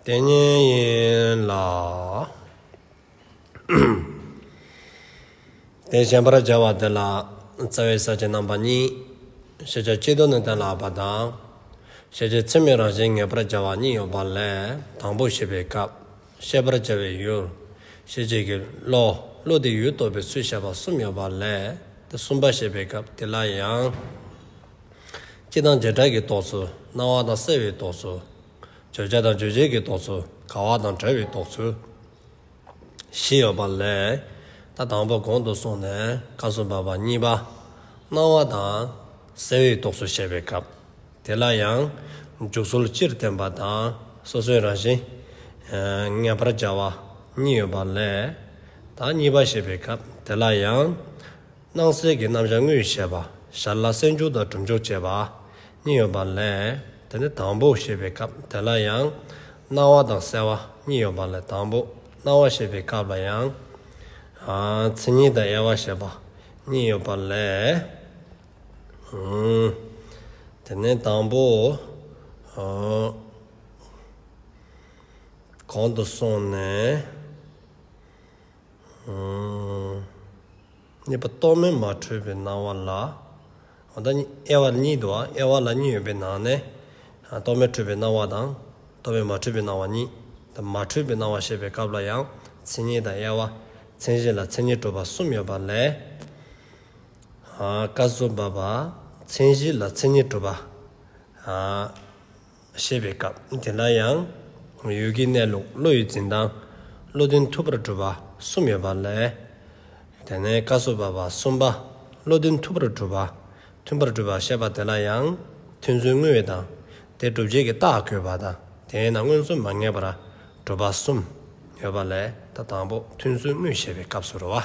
ལྟས་ངན་ཡིན་ལ། དེ་བཞིན་པར་སྦྱར་བ་འདི་ལ་རྩ་བའི་ས་བཅད་རྣམ་པ་གཉིས། ཤེས་བྱ་སྤྱི་དོན་ནི་གཏན་ལ་ཕབ་པ་དང། ཤེས་བྱའི་ཚིག་མིང་རང་བཞིན་ངེས་པར་སྦྱར་བ་གཉིས་ཡོད་པ་ལས་དང་པོ་ཤེས་པའི་སྐབས་ཤེས་པར་བྱ་བའི་ཡུལ། ཤེས་བྱེད་ཀྱི་བློ། བློ་དེའི་ཡུལ་རྟོགས་པའི་ཚུལ་བཤད་པ་གསུམ་ཡོད་པ་ལས་དེ་གསུམ་པ་ཤེས་པའི་སྐབས་དེ་ལ་ཡང། སྤྱི་དང་བྱེ་བྲག་གི་རྟོགས་ཚུལ་སྣང་བ་དང་གསལ་བའི་རྟོགས་ཚུལ། བརྗོད་བྱ་དང་རྗོད་བྱེད་ཀྱི་རྟོགས་ཚུལ་ག་བ་དང་བྲལ་བའི་རྟོགས་ཚུལ་བཞི་ཡོད་པ་ལས། ད་དང་པོ་གོང་དུ་སོང་ནས་ཀ་གསུམ་པ་བ་གཉིས་པ། སྣང་བ་དང་གསལ་བའི་རྟོགས་ཚུལ་བཤད་པའི་སྐབས་དེ་ལ་ཡང། འཇུག་ཚུལ་སྤྱིར་བསྟན་པ་དང་སོ་སོའི་རང་བཞིན། ངེས་པར་བྱ་བ་གཉིས་ཡོད་པ་ལས། ད་གཉིས་པ་བཤད་པའི་སྐབས་དེ་ལ་ཡང། སྣང་གསལ་གྱི་རྣམ་གཞག་དངོས་ཡོད་བཤད་པ། ཞར་ལ་གསལ་འབྱུང་དང་གྲུབ་འཇོག་བྱེད་པ། གཉིས་ཡོད་པ་ལས། དེ་ནི་དང་པོ་ཞེས་པའི་སྐབས་དེ་ལ་ཡང། སྣང་བ་དང་གསལ་བ་གཉིས་ཡོད་པ་ལས་དང་པོ་སྣང་བ་ཞེས་པའི་སྐབས་ལ་ཡང། མཚན་ཉིད་དང་དབྱེ་བ་ཞེས་པ་གཉིས་ཡོད་པ་ལས། དེ་ནི་དང་པོ། གོང་དུ་སོང་ནས། གཉིས་པ་རྟོག་མེད་མ་འཁྲུལ་པའི་སྣང་བ་ལ། ད་དབྱེ་བ་གཉིས་འདུག་ཨ་དབྱེ་བ་ལ་གཉིས་ཡོད་པའི་ནང་ནས། རྟོག་མེད་འཁྲུལ་པའི་སྣང་བ་དང། རྟོག་མེད་མ་འཁྲུལ་པའི་སྣང་བ་གཉིས། ད་མ་འཁྲུལ་པའི་སྣང་བ་བཤད་པའི་སྐབས་ལ་ཡང་མཚན་ཉིད་དང་དབྱེ་བ། མཚན་གཞི་ལ་མཚན་ཉིད་གྲུབ་པ་གསུམ་ཡོད་པ་ལས། བཀའ་སྩོལ་འབབ་པ་མཚན་གཞི་ལ་མཚན་ཉིད་གྲུབ་པ། བཤད་པའི་སྐབས་དེ་འདྲ་ཡང། ཡུལ་གྱི་གནས་ལུགས་བློ་ཡིས་འཛིན་སྟངས་བློ་འདོན་ཐུབ་པར་གྲུབ་པ་གསུམ་ཡོད་པ་ལས། དེ་ནས་བཀའ་སྲོལ་བབས་པ་གསུམ་པ་བློ་འདོན་ཐུབ་པར་གྲུབ་པ་མཐུན་པར་གྲུབ་པར་བཤད་པ་དེ་ལ་ཡང། མཐུན་ཚུལ་དངོས་ཡོད་དང་དེ་གྲུབ་བྱེད་ཀྱི་རྟགས་གོ་བ་དང་དེས་ན་མངོན་ཚུལ་མ་ངེས་པར་གྲུབ་པ་གསུམ་ཡོད་པ་ལས་ད་དང་པོ་མཐུན་ཚུལ་དངོས་བཤད་པའི་སྐབས་སུ་རུ་བ།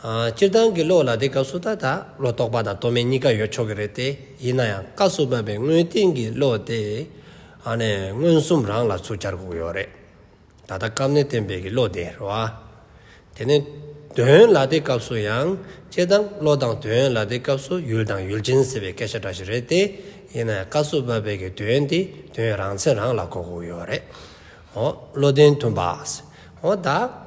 སྤྱིར་བཏང་གི་བློ་ལ་དེ་སྐབས་སུ་ད་ལྟ་བློ་རྟོག་པ་དང་རྟོག་མེད་གཉིས་ཀ་ཡོད་ཆོག་གི་རེད་དེ། ཡིན་ན་ཡང་སྐབས་སུ་བབས་པའི་དངོས་བསྟན་གྱི་བློ་དེ། མངོན་སུམ་རང་ལ་ཚུར་འཆར་དགོས་ཡོད་རེད། ད་ལྟ་སྐབས་ནི་བསྟན་པའི་གི་བློ་དེ་རེད་བ། དེ་ནི། དོན་ལ་དེ་སྐབས་སུ་ཡང། སྤྱིར་བཏང་བློ་དང་དོན་ལ་དེ་སྐབས་སུ་ཡུལ་དང་ཡུལ་ཅན་ཟེར་བའི་སྐད་ཆ་འདྲ་ཞིག་རེད་དེ། ཡིན་ན་ཡང་སྐབས་སུ་བབས་པའི་གི་དོན་དེ་དོན་རང་མཚན་རང་ལ་གོ་དགོས་ཡོད་རེད། བློ་བདེན་མཐུན་པ། ད།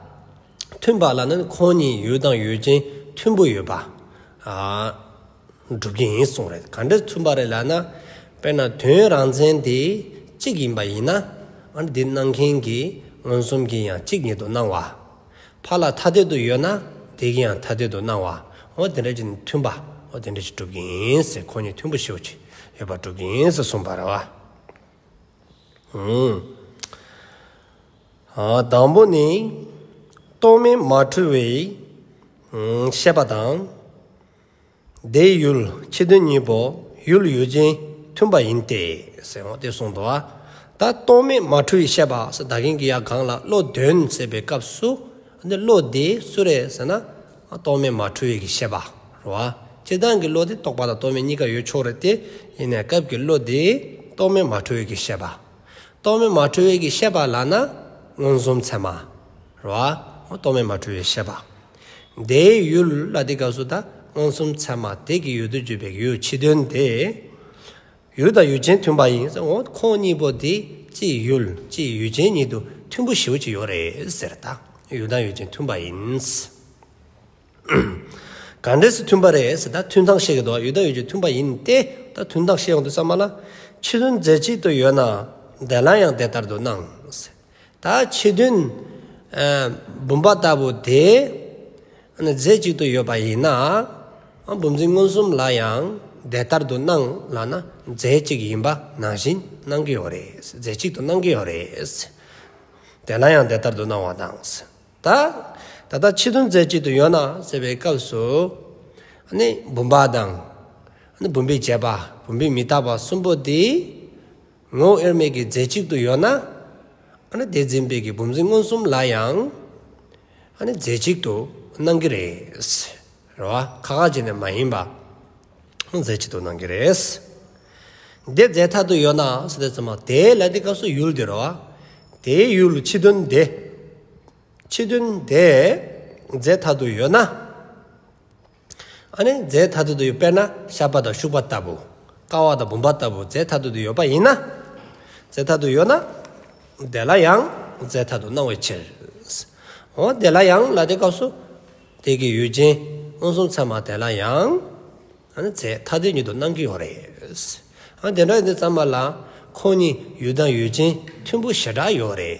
མཐུན་པ་ལ་ནི་ཁོང་གཉིས་ཡོད་དང་ཡོད་ཅིང་མཐུན་པོ་ཡོད་པ། སྒྲུབ་རྒྱུ་ཡིན་གསུངས་རེད་ག་འདྲས་མཚུན་པ་རེད་ལབ་ན། དཔེར་ན་དོན་རང་མཚན་དེ་གཅིག་ཡིན་པ་ཡིན་ན། འདི་སྣང་མཁན་གྱི་མངོན་སུམ་གྱི་ཡང་གཅིག་ཉིད་དུ་སྣང་བ། ཕ་ལ་ཐ་དད་དུ་ཡོད་ན་དེ་གི་ཡང་ཐ་དད་དུ་སྣང་བ། འོ་དེ་འདྲ་གྱི་ནི་མཐུན་པ། འོ་དེ་འདྲ་གྱི་སྒྲུབ་རྒྱུ་ཡིན། ཁོང་གཉིས་མཐུན་པོ་ཤེའུ་ཆེ་ཡོད་པ་སྒྲུབ་རྒྱུ་ཡིན་ཟེར་གསུངས་པ་རེད་བ། དང་པོ་ནི། རྟོག་མེད་མ་འཁྲུལ་བའི་ཤེས་པ་དང། དེའི་ཡུལ་ཁྱི་དོན་གཉིས་པོ་ཡུལ་ཡུལ་ཅན་མཐུན་པ་ཡིན་ཏེ། ཟེར་བ་དེ་གསུངས་འདུག་ད་རྟོག་མེད་མ་འཁྲུལ་བའི་ཤེས་པ་ཟེར་ད་གིན་གི་ཡ་གང་ལ་བློ་དོན་ཟེར་བའི་སྐབས་སུ། འདི་བློ་དེ་སུ་རེད་ཟེར་ན། རྟོག་མེད་མ་འཁྲུལ་བའི་གྱི་ཤེས་པ། རོ། སྤྱིར་བཏང་གི་བློ་དེ་རྟོག་པ་དང་རྟོག་མེད་གཉིས་ཀ་ཡོད་ཆོག་རེད་དེ། ཡིན་ནའི་སྐབས་ཀྱི་བློ་དེ། རྟོག་མེད་མ་འཁྲུལ་བའི་གྱི་ཤེས་པ། རྟོག་མེད་མ་འཁྲུལ་བའི་གྱི་ཤེས་པ་ལགས་ན། མངོན་སུམ་ཚད་མ། རོ། རྟོག་མེད་མ་འཁྲུལ་བའི་ཤེས་པ། དེའི་ཡུལ་ལ་དེའི་སྐབས་སུ་ད། མངོན་སུམ་ཚད་མ་དེ་གྱི་ཡུལ་དུ་གྱུར་པའི་གྱི་ཡུལ་ཕྱི་དོན་དེ། ཡུལ་དང་ཡུལ་ཅན་མཐུན་པ་ཡིན་ཟེར་འོང་ཁོང་གཉིས་པོ་དེ་སྤྱིའི་ཡུལ་སྤྱིའི་ཡུལ་ཅན་ཉིད་དུ་མཐུན་པོ་ཞེའུ་ཅི་ཡོད་རེད་ཟེར་ད་ཡུལ་དང་ཡུལ་ཅན་མཐུན་པ་ཡིན། གང་འདྲས་སུ་མཐུན་པ་རེད་ཟེར་ད་མཐུན་སྟངས་བཤད་གི་འདུག་ཡུལ་དང་ཡུལ་ཅན་མཐུན་པ་ཡིན་ཏེ་ད་མཐུན་སྟངས་བཤད་ཡོང་དུས་ས་མ་ལ་ཕྱི་ལྷུན་རྫས་གཅིག་ཏུ་ཡོད་ན་འདས་ལ་ཡང་དེ་ལྟར་དུ་སྣང་ཟེར། ད་ཁྱི་བདུན། བུམ་པ་ལྟ་བུ་དེ། རྫས་གཅིག་ཏུ་ཡོད་པ་ཡིན་ན། བུམ་འཛིན་མངོན་སུམ་ལ་ཡང་དེ་ལྟར་དུ་སྣང་ལགས་ན་རྫས་གཅིག་ཡིན་པ་ནང་བཞིན་སྣང་གི་ཡོད་རེད། རྫས་གཅིག་ཏུ་སྣང་གི་ཡོད་རེད། དེ་སླ་ཡང་དེ་ལྟར་དུ་སྣང་བ་དང། ད་ལྟ་ཁྱི་བདུན་རྫས་གཅིག་ཏུ་ཡོད་ན་ཟེར་བའི་སྐབས་སུ། བུམ་པ་དང། བུམ་པའི་བྱེད་པ་བུམ་པའི་མི་རྟག་པ་གསུམ་པོ་དེ། ངོ་བོ་དབྱེར་མེད་ཀྱི་རྫས་གཅིག་ཏུ་ཡོད་ན། དེ་འཛིན་པའི་གྱི་བུམ་འཛིན་མངོན་སུམ་ལ་ཡང། རྫས་གཅིག་ཏུ་སྣང་གི་རེད། རེད་བ། ཁ་ཁ་ཅིག་ནི་མ་ཡིན་པ། རྫས་གཅིག་ཏུ་སྣང་གི་རེད། དེ་རྫས་ཐ་དུ་ཡོད་ན་སོ་སྟེ་ཚང་མ་དེ་ལ་དེའི་སྐབས་སུ་ཡུལ་དེ་རེད་བ། དེའི་ཡུལ་ཕྱི་དོན་དེ། ཕྱི་དོན་དེ་རྫས་ཐ་དུ་ཡོད་ན། ཨ་ནི་རྫས་མཐར་ཐུག་ཏུ་ཡོད་པས་ན་བཤགས་པ་དང་བཤུག་པ་ལྟ་བུ། བསྐ་བ་དང་བུམ་པ་ལྟ་བུ་རྫས་མཐར་ཐུག་ཏུ་ཡོད་པ་ཡིན་ན། རྫས་མཐར་ཐུག་ཡོད་ན། དེ་ལ་ཡང་རྫས་མཐར་ཐུག་སྣང་བའི་ཕྱིར། འོ་དེ་ལ་ཡང་ལ་དེ་སྐབས་སུ། དེ་གི་ཡུལ་ཅན་མངོན་སུམ་ཚད་མ་དེ་ལ་ཡང། ཨ་ནི་རྫས་མཐར་ཐུག་ཉིད་དུ་སྣང་གི་ཡོད་རེད། ཨ་དེ་འདྲ་ཡིན་དུས་ཚད་མ་ལ། ཁོང་གཉིས་ཡུལ་དང་ཡུལ་ཅན་མཐུན་པོ་ཞེ་དྲག་ཡོད་རེད།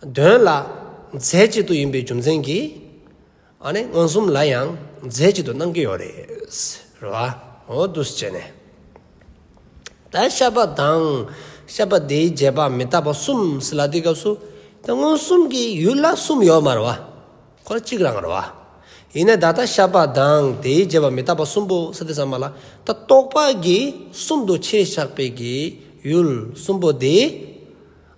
དོན་ལ། རྫས་གཅིག་ཏུ་ཡིན་པའི་རྒྱུ་མཚན་གྱིས། མངོན་སུམ་ལ་ཡང་རྫས་གཅིག་ཏུ་སྣང་གི་ཡོད་རེད། འོ་དུས་བྱས་ནས། ད་ཤ་པ་དང་ཤ་པ་དེའི་རྗེས་དཔག་མི་རྟག་པ་གསུམ་ཟེར་ལ་དེའི་སྐབས་སུ། དེ་མངོན་སུམ་གྱི་ཡུལ་ལ་གསུམ་ཡོད་མ་རེད་བ། ཁོ་ལ་གཅིག་རང་རེད་བ། ཡིན་ནའི་ད་ལྟ་ཤ་པ་དང་དེའི་རྗེས་དཔག་མི་རྟག་པ་གསུམ་པོ་ཟེར་ཏེ་བསམ་པ་ལ། ད་རྟོག་པ་གིས་གསུམ་དུ་ཕྱེས་ཞགས་པའི་གྱི་ཡུལ་གསུམ་པོ་དེ།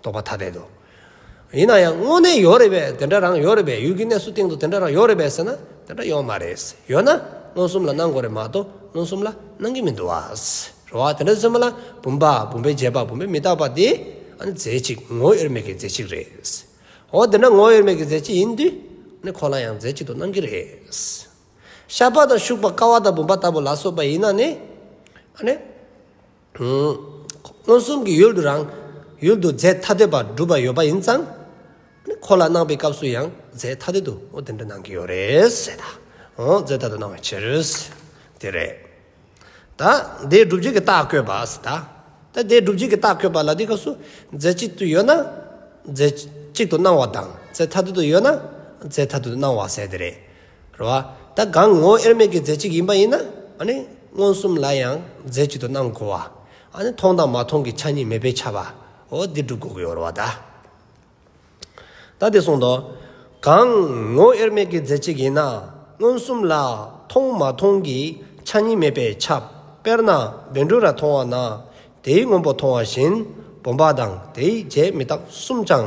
རྟོག་པ་ཐ་དད་དུ། ཡིན་ན་ཡང་དངོས་གནས་ཡོད་རེད་པས་དེ་འདྲ་རང་ཡོད་རེད་པས་ཡུལ་གྱི་གནས་སུ་སྟེང་དུ་དེ་འདྲ་རང་ཡོད་རེད་པས་ཟེར་ན་དེ་འདྲ་ཡོད་མ་རེད། ཡོད་ན་མངོན་སུམ་ལ་སྣང་དགོས་རེད་མ་གཏོགས་མངོན་སུམ་ལ་སྣང་གི་མི་འདུག་ཨ། རེད་བ། དེ་འདྲ་ཚོད་མ་ལ་བུམ་པ་བུམ་པའི་རྗེས་དཔག་བུམ་པའི་མི་རྟག་པ་དེ་ཨ་ནི་རྫས་གཅིག་ངོ་དབྱེར་མེད་ཀྱི་རྫས་གཅིག་རེད། འོ་དེ་འདྲ་ངོ་དབྱེར་མེད་ཀྱི་རྫས་གཅིག་ཡིན་དུས་ནི་ཁོ་ལ་ཡང་རྫས་གཅིག་ཏུ་སྣང་གི་རེད། ཤ་པ་དང་ཤུག་པ་ཀ་བ་དང་བུམ་པ་ལྟ་བུ་ལ་སོགས་པ་ཡིན་ན་ནི་ཨ་ནི། མངོན་སུམ་གྱི་ཡུལ་དུ་རང་ཡུལ་དུ་རྫས་ཐ་དད་པར་སྒྲུབ་པ་ཡོད་པ་ཡིན་ཙང། འཁོར་ལ་སྣང་བའི་སྐབས་སུ་ཡང་རྫས་ཐ་དད་དུ་དེ་འདྲ་སྣང་གི་ཡོད་རེད། རྫས་ཐ་དད་སྣང་བའི་ཕྱིར། དེ་རེད། ད་དེའི་སྒྲུབ་བྱེད་ཀྱི་རྟགས་བཀོད་པ། ད་དེའི་སྒྲུབ་བྱེད་ཀྱི་རྟགས་བཀོད་པ་ལ་དེའི་སྐབས་སུ་རྫས་གཅིག་ཏུ་ཡོད་ན་རྫས་གཅིག་ཏུ་སྣང་བ་དང་རྫས་ཐ་དད་དུ་ཡོད་ན་རྫས་ཐ་དད་དུ་སྣང་བ་ཟེར་དེ་རེད། རེད་བ། ད་སྒང་ངོ་དབྱེར་མེད་ཀྱི་རྫས་གཅིག་ཡིན་པ་ཡིན་ན། མངོན་སུམ་ལ་ཡང་རྫས་གཅིག་ཏུ་སྣང་དགོས་བ། མཐོང་དང་མ་མཐོང་གི་ཆ་གཉིས་མེད་པའི་ཆ་བ། འོ་འདི་སྒྲུབ་དགོས་ཀྱི་ཡོད་རེད་བ། ད་དེ་གསུངས་ཏོ། སྒང་ངོ་དབྱེར་མེད་ཀྱི་རྫས་གཅིག་ཡིན་ན། མངོན་སུམ་ལ་མཐོང་མ་མཐོང་གི་ཆ་གཉིས་མེད་པའི་ཆ། དཔེར་ན་བེ་འབྲུ་ར་མཐོང་བ་ན། དེའི་སྔོན་པོ་མཐོང་བ་བཞིན་བུམ་པ་དང་དེའི་རྗེས་མི་རྟག་གསུམ་ཅང།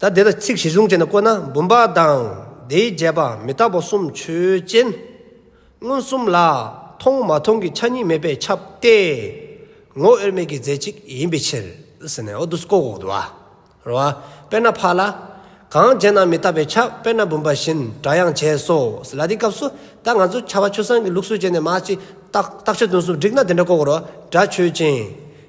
ད་དེ་ལ་ཚིག་བཞི་བཟུང་བྱས་ནས་བཀོད་ན་བུམ་པ་དང་དེའི་རྒྱས་པ་མི་རྟག་པ་གསུམ་ཆོས་ཅན། མངོན་སུམ་ལ་མཐོང་མ་མཐོང་གི་ཆ་གཉིས་མེད་པས་ཁྱབ་སྟེ། ངོ་དབྱེར་མེད་ཀྱི་རྫས་གཅིག་ཡིན་པའི་ཕྱིར། ཟེར་ནས་འོ་དུ་ཀོ་ཀོ་དུ་ཨ། རོ་ཨ། དཔེར་ན་ཕག་ལ། གང་བྱས་ན་མི་རྟག་པས་ཁྱབ་དཔེར་ན་བུམ་པ་བཞིན་སྒྲ་ཡང་བྱས་སོ། ལ་དེའི་སྐབས་སུ་ད་ང་ཚོ་ཁྱད་པར་ཆོས་སངས་ཀྱི་ལུགས་སྲོལ་བྱས་ནས་མ་ཅིག། རྟགས་ཆོས་སྟོན་གསུམ་བསྒྲིགས་ན་དེ་འདྲ་ཀོ་ཀོ་རོ་ཨ། སྒྲ་ཆོས་ཅན།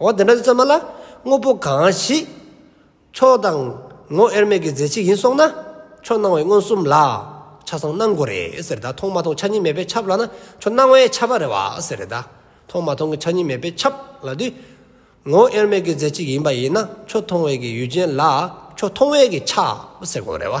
འོ་དེ་འདྲ་ཚོད་མ་ལ་དངོས་པོ་གང་ཞིག། ཆོས་དང་ངོ་དབྱེར་མེད་ཀྱི་རྫས་གཅིག་ཡིན་སོང་ན། ཆོས་སྣང་བའི་མངོན་སུམ་ལ། ཆ་ཚང་སྣང་དགོས་རེད་ཟེར་ད་མཐོང་མ་མཐོང་ཆ་གཉིས་མེད་པའི་ཁྱབ་ལ་ན་ཆོས་སྣང་བའི་ཁྱབ་པ་རེད་བ་ཟེར་རེད་ད། མཐོང་མ་མཐོང་གི་ཆ་གཉིས་མེད་པའི་ཁྱབ་ལ་དུས། ངོ་དབྱེར་མེད་ཀྱི་རྫས་གཅིག་ཡིན་པ་ཡིན་ན་ཆོས་མཐོང་བའི་ཀྱི་ཡུལ་ཅན་ལ་ཆོས་མཐོང་བའི་ཀྱི་ཁྱབ་ཟེར་དགོས་རེད་བ།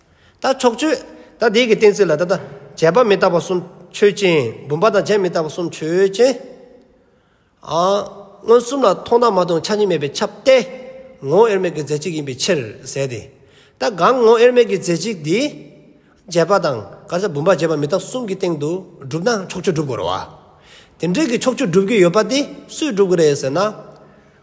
ད་ཆོག་ཆོད། ད་བདེ་གི་གཏན་ཚིགས་ལ་ད་ལྟ། བྱས་པ་མི་རྟག་པ་གསུམ་ཆོས་ཅན། བུམ་པ་དང་བྱས་མི་རྟག་པ་གསུམ་ཆོས་ཅན། མངོན་སུམ་ལ་མཐོང་དང་མ་མཐོང་ཆ་གཉིས་མེད་པའི་ཁྱབ་སྟེ། ངོ་བོ་དབྱེར་མེད་ཀྱི་རྫས་གཅིག་ཡིན་པའི་ཕྱིར་ཟད་དེ། ད་གང་ངོ་བོ་དབྱེར་མེད་ཀྱི་རྫས་གཅིག་འདི། བྱས་པ་དང་ག་ས་བུམ་པ་བྱས་པ་མི་རྟག་གསུམ་གྱི་སྟེང་དུ་གྲུབ་ན་ཆོག་ཆོད་སྒྲུབ་དགོས་རོ། དེ་འདྲའི་གི་ཆོག་ཆོད་སྒྲུབ་རྒྱུ་ཡོད་པ་དེ་སུས་སྒྲུབ་དགོས་རེད་ཟེར་ན།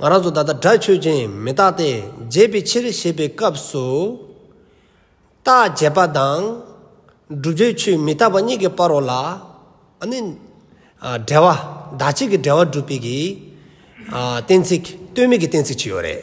ང་རང་ཚོ་ད་ལྟ་དགྲ་ཆོས་ཅན་མི་རྟག་སྟེ་བརྗེད་པའི་ཕྱིར་ཞེས་པའི་སྐབས་སུ། རྟག་བརྗེད་པ་དང། བསྒྲུབ་བྱའི་ཆོས་མི་རྟག་པ་གཉིས་ཀྱི་བར་རོ་ལ་ནི། འབྲེལ་བ་བདག་གཅིག་གི་འབྲེལ་བ་སྒྲུབ་པའི་གཏན་ཚིགས་ལྟོས་མེད་ཀྱི་གཏན་ཚིགས་ཅི་ཡོད་རེད།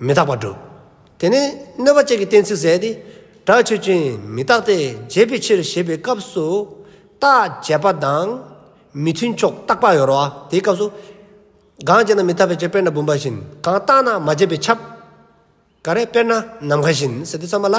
མི་རྟག་པར་སྒྲུབ། དེ་ནས་གནོད་པ་བཅས་ཀྱི་གཏན་ཚིགས་བསལ་ཏེ། དགྲ་ཆོས་ཅན་མི་རྟག་སྟེ་བརྗེད་པའི་ཕྱིར་ཞེས་པའི་སྐབས་སུ། རྟགས་བྱས་པ་དང་མི་མཐུན་ཕྱོགས་རྟག་པར་ཡོར་བ་དེའི་སྐབས་སུ། གང་བརྗེད་ན་མི་རྟག་པའི་ཕྱིར་དཔེར་ན་བུམ་པ་བཞིན། གང་རྟག་ན་མ་བརྗེད་པའི་ཁྱབ། ག་རེ་དཔེར་ན་ནམ་མཁའ་བཞིན་ཟེར་ཏེ་བརྩམས་པ་ལ།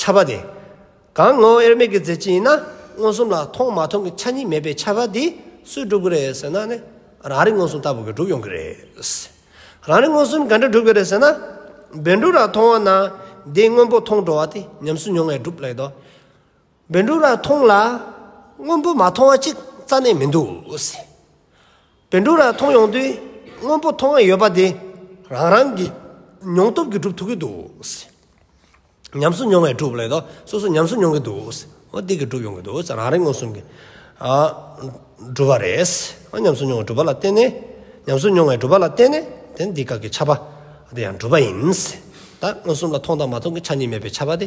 ཆ་བ་དེ། གང་ངོ་བོ་དབྱེར་མེད་ཀྱི་རྫས་ཅན་ཡིན་ན་མངོན་སུམ་ལ་མཐོང་མ་མཐོང་གི་ཆ་གཉིས་མེད་པའི་ཆ་བ་དེ་སུས་སྒྲུབ་ཀྱི་རེད་ཟེར་ན་ནི་རང་རིག་མངོན་སུམ་ལྟ་བུ་གིས་སྒྲུབ་ཡོང་གི་རེད། རང་རིག་མངོན་སུམ་ག་འདྲས་སྒྲུབ་ཀྱི་རེད་ཟེར་ན། བེ་འབྲུག་ར་མཐོང་བ་ན་དེའི་དངོས་པོ་མཐོང་འགྲོ་བ་དེ་ཉམས་སུ་མྱོང་བས་སྒྲུབ་ལེགས་དོ། འབེན་འབྲུག་ར་མཐོང་ལ། སྔོན་པོ་མ་མཐོང་བ་ཅིག་རྩ་ནས་མི་འདུག། འབེན་འབྲུག་ར་མཐོང་ཡོང་དུས་སྔོན་པོ་མཐོང་ཨེ་ཡོད་པ་དེ་རང་རང་གི་མྱོང་སྟོབས་ཀྱིས་སྒྲུབ་ཐུབ་ཀྱི་འདུག། ཉམས་སུ་མྱོང་བའི་སྒྲུབ་ལས་དང་སོ་སོ་ཉམས་སུ་མྱོང་གི་འདུག། འོ་དེ་གིས་སྒྲུབ་ཡོང་གི་འདུག་རང་རེ་མངོན་སུམ་གྱིས་སྒྲུབ་པ་རེད། ཉམས་སུ་མྱོང་བའི་སྒྲུབ་པ་ལ་བརྟེན་ནས་ཉམས་སུ་མྱོང་བའི་སྒྲུབ་པ་ལ་བརྟེན་ནས་དེ་འདི་ག་གི་ཆ་པ་དེ་ཡང་སྒྲུབ་པ་ཡིན། ད་མངོན་སུམ་ལ་མཐོང་དང་མ་མཐོང་གི་ཆ་གཉིས་མེད་པའི་ཆ་པ་དེ།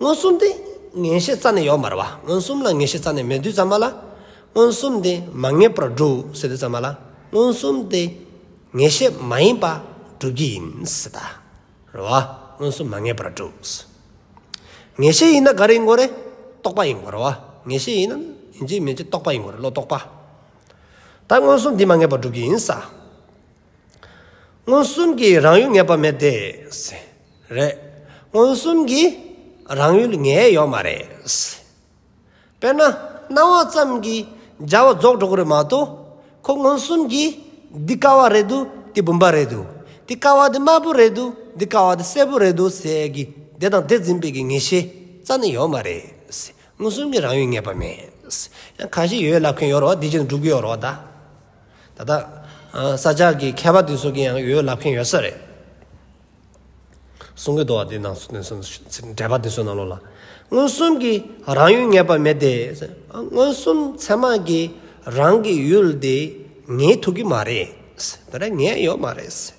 མངོན་སུམ་དེ་ངེས་ཤེས་རྩ་ནས་ཡོད་མར་བ་མངོན་སུམ་ལ་ངེས་ཤེས་རྩ་ནས་མེད་དུས་ཙམ་མ་ལ། མངོན་སུམ་དེ་མ་ངེས་པར་འགྲོ་ཟེར་དུས་ཙམ་མ་ལ་མངོན་སུམ་དེ་ངེས་ཤེས་མ་ཡིན་པ་སྒྲུབ་ཀྱི་ཡིན། རེད་བ། མངོན་སུམ་མ་ངེས་པར་འགྲོ། ངེས་ཤེས་ཡིན་ན་ག་རེ་ཡིན་དགོས་རེད། རྟོག་པ་ཡིན་དགོས་རེད་བ། ངེས་ཤེས་ཡིན་ན་ཡིན་གཅིག་མིན་གཅིག་རྟོག་པ་ཡིན་དགོས་རེད་བློ་རྟོག་པ། ད་མངོན་སུམ་དེ་མ་ངེས་པར་སྒྲུབ་ཀྱི་ཡིན། མངོན་སུམ་གྱི་རང་ཡུལ་ངེས་པ་མེད་དེ། རེད། མངོན་སུམ་གྱི་རང་ཡུལ་ངེས་ཡོད་མ་རེད། དཔེར་ན། སྣང་བ་ཙམ་གྱིས་སྦྱར་བ་རྫོགས་འགྲོ་གི་རེད་མ་གཏོགས། ཁོ་མངོན་སུམ་གྱིས་འདི་དཀའ་བ་རེད་འདུག་འདི་བུམ་པ་རེད་འདུག་འདི་དཀའ་བ་འདི་དམར་པོ་རེད་འདུག་འདི་དཀའ་བ་འདི་སེར་པོ་རེད་འདུག་ཟེར་གྱི་དེ་དང་དེ་འཛིན་པའི་གི་ངེས་ཤེས་རྩ་ནས་ཡོད་མ་རེད། མངོན་སུམ་གྱི་རང་ཡུལ་ངེས་པ་མེད། ཡང་གང་ཞིག་ཡོད་ལབ་མཁན་ཡོད་རོགས་འདི་བཞིན་དུ་འགྲོ་གི་ཡོད་རོགས་ད། ད་ལྟ་ས་ཆ་གི་མཁས་པ་དེ་ཚོ་གིས་ཡང་ཡོད་ལབ་མཁན་ཡོད་ས་རེད། གསུང་གི་འདུག་བ་དེ་ནང་སོ་སོ་འདྲེས་པ་དེ་ཚོའི་ནང་ལོགས་ལ། མངོན་སུམ་གྱི་རང་ཡུལ་ངེས་པ་མེད་དེ། མངོན་སུམ་མཚན་མ་གྱི་རང་གི་ཡུལ་དེ་ངེས་ཐུག་གི་མ་རེད། ད་རེས་ངེས་ཡོད་མ་རེད།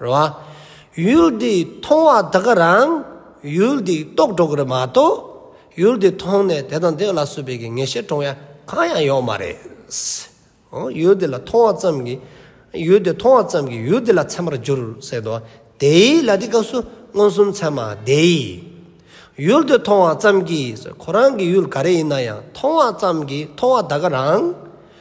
རེད་བ། ཡུལ་འདི་མཐོང་བ་དེ་ག་རང་ཡུལ་འདི་རྟོགས་འགྲོ་གི་རེད་མ་གཏོགས་ཡུལ་འདི་མཐོང་ནས་དེ་དང་དེ་ལ་བསུ་བའི་གི་ངེས་ཤེས་དྲོངས་ཡ་གང་ཡང་ཡོག་མ་རེད། ཡུལ་འདི་ལ་མཐོང་བ་ཙམ་གི་ཡུལ་འདི་མཐོང་བ་ཙམ་གི་ཡུལ་འདི་ལ་ཚད་མར་འགྱུར་སྲིད་དོ། དེའི་ལ་དེ་སྐབས་སུ་མངོན་སུམ་ཚད་མ་དེ། ཡུལ་འདི་མཐོང་བ་ཙམ་གྱིས་ཁོ་རང་གི་ཡུལ་ག་རེ་ཡིན་ན་ཡང་མཐོང་བ་ཙམ་གྱིས་མཐོང་བ་དེ་ག་རང།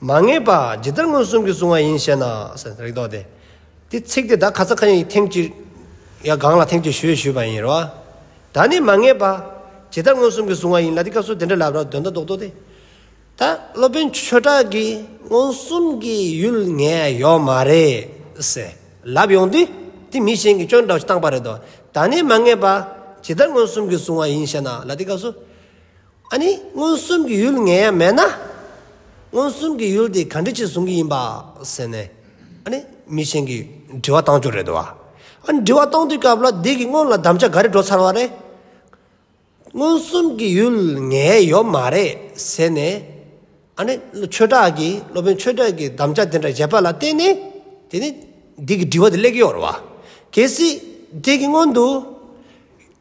མ་ངེས་པ་ཇི་ལྟར་མངོན་སུམ་གྱིས་བཟུང་བ་ཡིན་ཞེ་ན། རིགས་ལྡོག་སྟེ། དེ་ཚིག་དེ་དག་ཁ་ཚ་ཁ་ཡི་ཐེངས་གཅིག་ཡ་གང་ལ་ཐེངས་གཅིག་ཞུས་ཞུས་པ་ཡིན་རོ། ད་ནི་མ་ངེས་པ་ཇི་ལྟར་མངོན་སུམ་གྱིས་བཟུང་བ་ཡིན་ལ་དེ་སྐབས་སུ་དེ་འདྲ་ལབ་རབས་དོན་དག་རྡོག་རྡོག་སྟེ། ད་སློབ་དཔོན་ཆོས་གྲགས་ཀྱིས་མངོན་སུམ་གྱི་ཡུལ་ངས་ཡོད་མ་རེད། ཟེར་ལབ་ཡོང་དུས་དེ་མི་གཞན་གྱིས་ཅོ་འདྲ་བཏང་པ་རེད་དོ། ད་ནི་མ་ངེས་པ་ཇི་ལྟར་མངོན་སུམ་གྱིས་བཟུང་བ་ཡིན་ཞེ་ན་ལ་དེ་སྐབས་སུ། ཨ་ནི་མངོན་སུམ་གྱི་ཡུལ་ངེས་ཡ་མེད་ན། མངོན་སུམ་གྱི་ཡུལ་དེ་ག་འདྲི་ཆེད་བཟུང་གི་ཡིན་པ་ཟེར་ནས། ཨ་ནི་མི་ཆེན་གྱིས་འདྲི་བ་བཏང་རྒྱུ་རེད་དོ། ཨ་ནི་འདྲི་བ་བཏང་དུས་སྐབས་ལ་བདེ་གི་སྔོན་ལ་གདམ་བྱ་ག་རེ་འགྲོ་ཚར་བ་རེད། མངོན་སུམ་གྱི་ཡུལ་ངེས་ཡོད་མ་རེད་ཟེར་ནས། ཨ་ནི་ཆོས་གྲགས་ཀྱིས་སློབ་དཔོན་ཆོས་གྲགས་ཀྱི་གདམས་བྱ་དེ་འདྲ་བཞེད་པ་ལ་བརྟེན་ནས་དེ་ནི་བདུད་ཀྱི་འདྲི་བ་དེ་ལེགས་ཡོད་རོ། གལ་སྲིད་དེ་གི་སྔོན་དུ་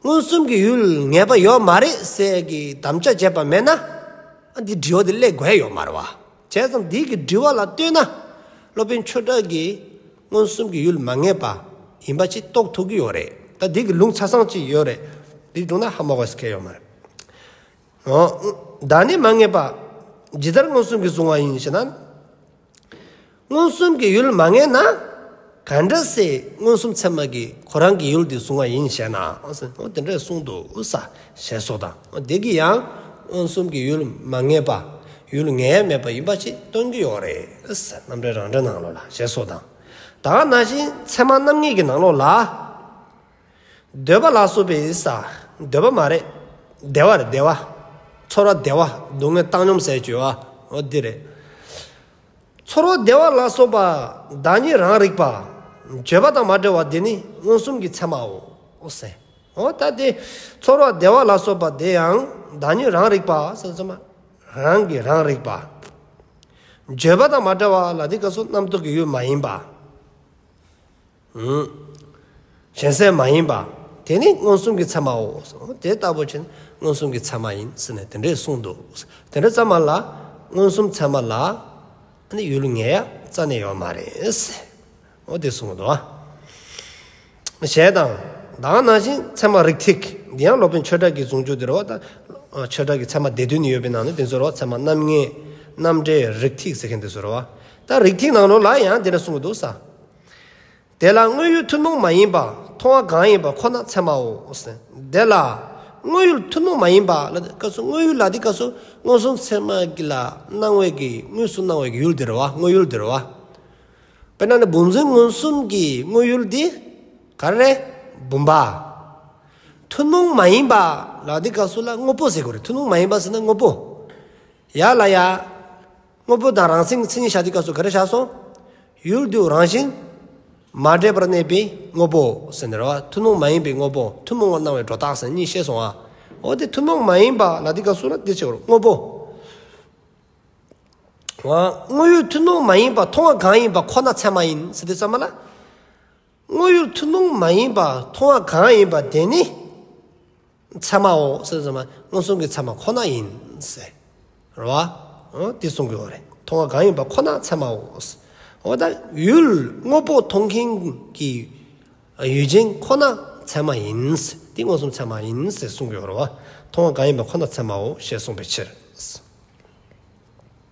མངོན་སུམ་གྱི་ཡུལ་ངེས་པ་ཡོད་མ་རེད་ཟེར་གྱི་གདམས་བྱ་བྱས་པ་མེད་ན་འདིའི་འདྲི་བ་དེ་ལེགས་དགོས་ཡོད་མ་རེད། བྱས་ཙང་བདུད་ཀྱི་འདྲི་བ་ལ་ལྟོས་ན་སློབ་དཔོན་ཆོས་གྲགས་ཀྱིས་མངོན་སུམ་གྱི་ཡུལ་མ་ངེས་པ་ཡིན་པ་ཅིག་རྟོགས་ཐུབ་ཀྱི་ཡོད་རེད། ད་བདུད་ཀྱི་ལུང་ཚ་སངས་ཅིག་ཡོད་རེད། འདི་བསྒྲུང་ན་ཧ་མ་གོ་སྐལ་ཡོད་མ་རེད། བདག་ནི་མ་ངེས་པ། ཇི་ལྟར་མངོན་སུམ་གྱིས་གཟུང་བ་ཡིན་ཞེ་ན། མངོན་སུམ་གྱི་ཡུལ་མ་ངེས་ན། ག་འདྲ་སའི་མངོན་སུམ་ཚད་མ་གིས་ཁོ་རང་གི་ཡུལ་འདི་གཟུང་བ་ཡིན་ཞེ་ན། དེ་འདྲས་གསུངས་འདུག་ས་ཞེས་སོགས་དང། བདག་གིས་ཡང་མངོན་སུམ་གྱི་ཡུལ་མ་ངེས་པ། ཡུལ་ངེས་མེད་པ་ཡིན་པ་ཞིག་སྟོན་གྱི་ཡོད་རེད། རྣམ་འགྲེལ་རང་འགྲེལ་ནང་ལོགས་ལ་ཞེས་སོགས་དང། དག་ན་བཞིན་ཚད་མ་རྣམ་ངེས་ཀྱི་ནང་ལོགས་ལ། འདོད་པ་ལ་སོགས་པའི་ས། འདོད་པ་མ་རེད། བདེ་བ་རེད་བདེ་བ། ཚོར་བ་བདེ་བ་སྡུག་བསྔལ་བཏང་སྙོམས་ཟད་གཅོད་བ། འོ་འདི་རེད། ཚོར་བ་བདེ་བ་ལ་སོགས་པ་བདག་ཉིད་རང་རིག་པ། བརྗོད་པ་དང་མ་བྲལ་བ་འདི་ནི་མངོན་སུམ་གྱི་ཚད་མའོ། འོ་ཟད། འོ་ད་དེ། ཚོར་བ་བདེ་བ་ལ་སོགས་པ་དེ་ཡང་བདག་ཉིད་རང་རིག་པ། སེམས་སོ་མ། རང་གི་རང་རིག་པ། བརྗོད་པ་དང་མ་བྲལ་བ་ལ་འདི་ཀ་སོགས་རྣམ་རྟོག་གི་ཡུལ་མ་ཡིན་པ། གཞན་སེལ་མ་ཡིན་པ། དེ་ནི་མངོན་སུམ་གྱི་ཚད་མའོ། དེ་ལྟ་བུ་ཆེ་ནི་མངོན་སུམ་གྱི་ཚད་མ་ཡིན་ཟེར་ནས་དེ་འདྲས་གསུངས་འདུག་དེ་འདྲ་ཙམ་མ་ལ། མངོན་སུམ་ཚད་མ་ལ། ནི་ཡུལ་ངེས་ཡ་རྩ་ནས་ཡོད་མ་རེད། འོ་དེ་གསུངས་འདུག་ཨ། གཞན་དང། དང་ནང་བཞིན་ཚད་མ་རིགས་ཐིག་འདི་ཡང་སློབ་དཔོན་ཆོས་གྲགས་ཀྱིས་གཟུངས་ཆོས་འདིར་རོ། ཆོས་གྲགས་ཀྱི་ཚད་མ་སྡེ་བདུན་ནི་ཡོད་པའི་ནང་ནས་དེ་ཚོར་རོ་ཚད་མ་རྣམ་ངེས། རྣམ་འགྲེལ་རིགས་ཐིག་ཟེར་མཁན་དེ་ཚོར་རོ། ད་རིགས་ཐིག་ནང་རོ་ལ་ཡང་དེ་འདྲ་གསུངས་འདུག་ས། དེ་ལ་དངོས་ཡུལ་ཐུན་མོང་མ་ཡིན་པ་མཐོང་བ་གང་ཡིན་པ་ཁོ་ན་ཚད་མའོ། དེ་ལ་དངོས་ཡུལ་ཐུན་མོང་མ་ཡིན་པ་ལ་དེ་སྐབས་སུ་དངོས་ཡུལ་ལ་དེ་སྐབས་སུ་མངོན་སུམ་ཚད་མ་ལ་སྣང་བའི་གི་དངོས་སུ་སྣང་བའི་གི་ཡུལ་དེར་བ་དངོས་ཡུལ་དེར་བ། དཔེར་ན་ནི་བུམ་རྫུན་མངོན་སུམ་གྱི་དངོས་ཡུལ་དེ་ག་རེ་རེད་བུམ་པ། ཐུན་མོང་མ་ཡིན་པ་ལ་དེ་སྐབས་སུ་ལ་དངོས་པོ་ཟེར་དགོས་རེད་ཐུན་མོང་མ་ཡིན་པ་ཟེར་ན་དངོས་པོ། ཡ་ལ་ཡ། དངོས་པོ་དང་རང་སེམས་ཀྱི་མཚན་ཉིད་བྱ་བྱེད་སྐབས་སུ་ག་རེ་བྱ་སོང། ཡུལ་དུས་རང་བཞིན། མ་འདྲེས་པར་གནས་པའི་དངོས་པོ། ཟེར་ནས་རེད་བ། ཐུན་མོང་མ་ཡིན་པའི་དངོས་པོ། ཐུན་མོང་བར་སྣང་བའི་སྒྲོ་བཏགས་ཟེར་ནས་གཉིས་བཤད་སོང་ཨ། འོ་དེ་ཐུན་མོང་མ་ཡིན་པ་ལ་འདི་སྐབས་སུ་ན་འདི་བྱེད་དགོས་རེད། དངོས་པོ། དངོས་ཡོད་ཐུན་མོང་མ་ཡིན་པ་མཐོང་བ་གང་ཡིན་པ་ཁོ་ན་ཚད་མ་ཡིན་ཟེར་དུས་ཙམ་མ་ལ། དངོས་ཡོད་ཐུན་མོང་མ་ཡིན་པ་མཐོང་བ་གང་ཡིན་པ་དེ་ནི་ཚད་མའོ། མངོན་སུམ་གྱི་ཚད་མ་ཁོ་ན་ཡིན། རེད་བ། དེ་གསུང་གི་འོ་རེད། མཐོང་བ་གང་ཡིན་པ་ཁོ་ན་ཚད་མའོ། འོ་ད་ཡུལ་དངོས་པོ་མཐོང་མཁན་གྱི་ཡུལ་ཅན་ཁོ་ན་ཚད་མ་ཡིན། དེ་མངོན་སུམ་ཚད་མ་ཡིན་ཟེར་གསུང་གི་འོ་རེད་བ། མཐོང་བ་གང་ཡིན་པ་ཁོ་ན་ཚད་མའོ་ཞེས་གསུངས་པའི་ཕྱིར།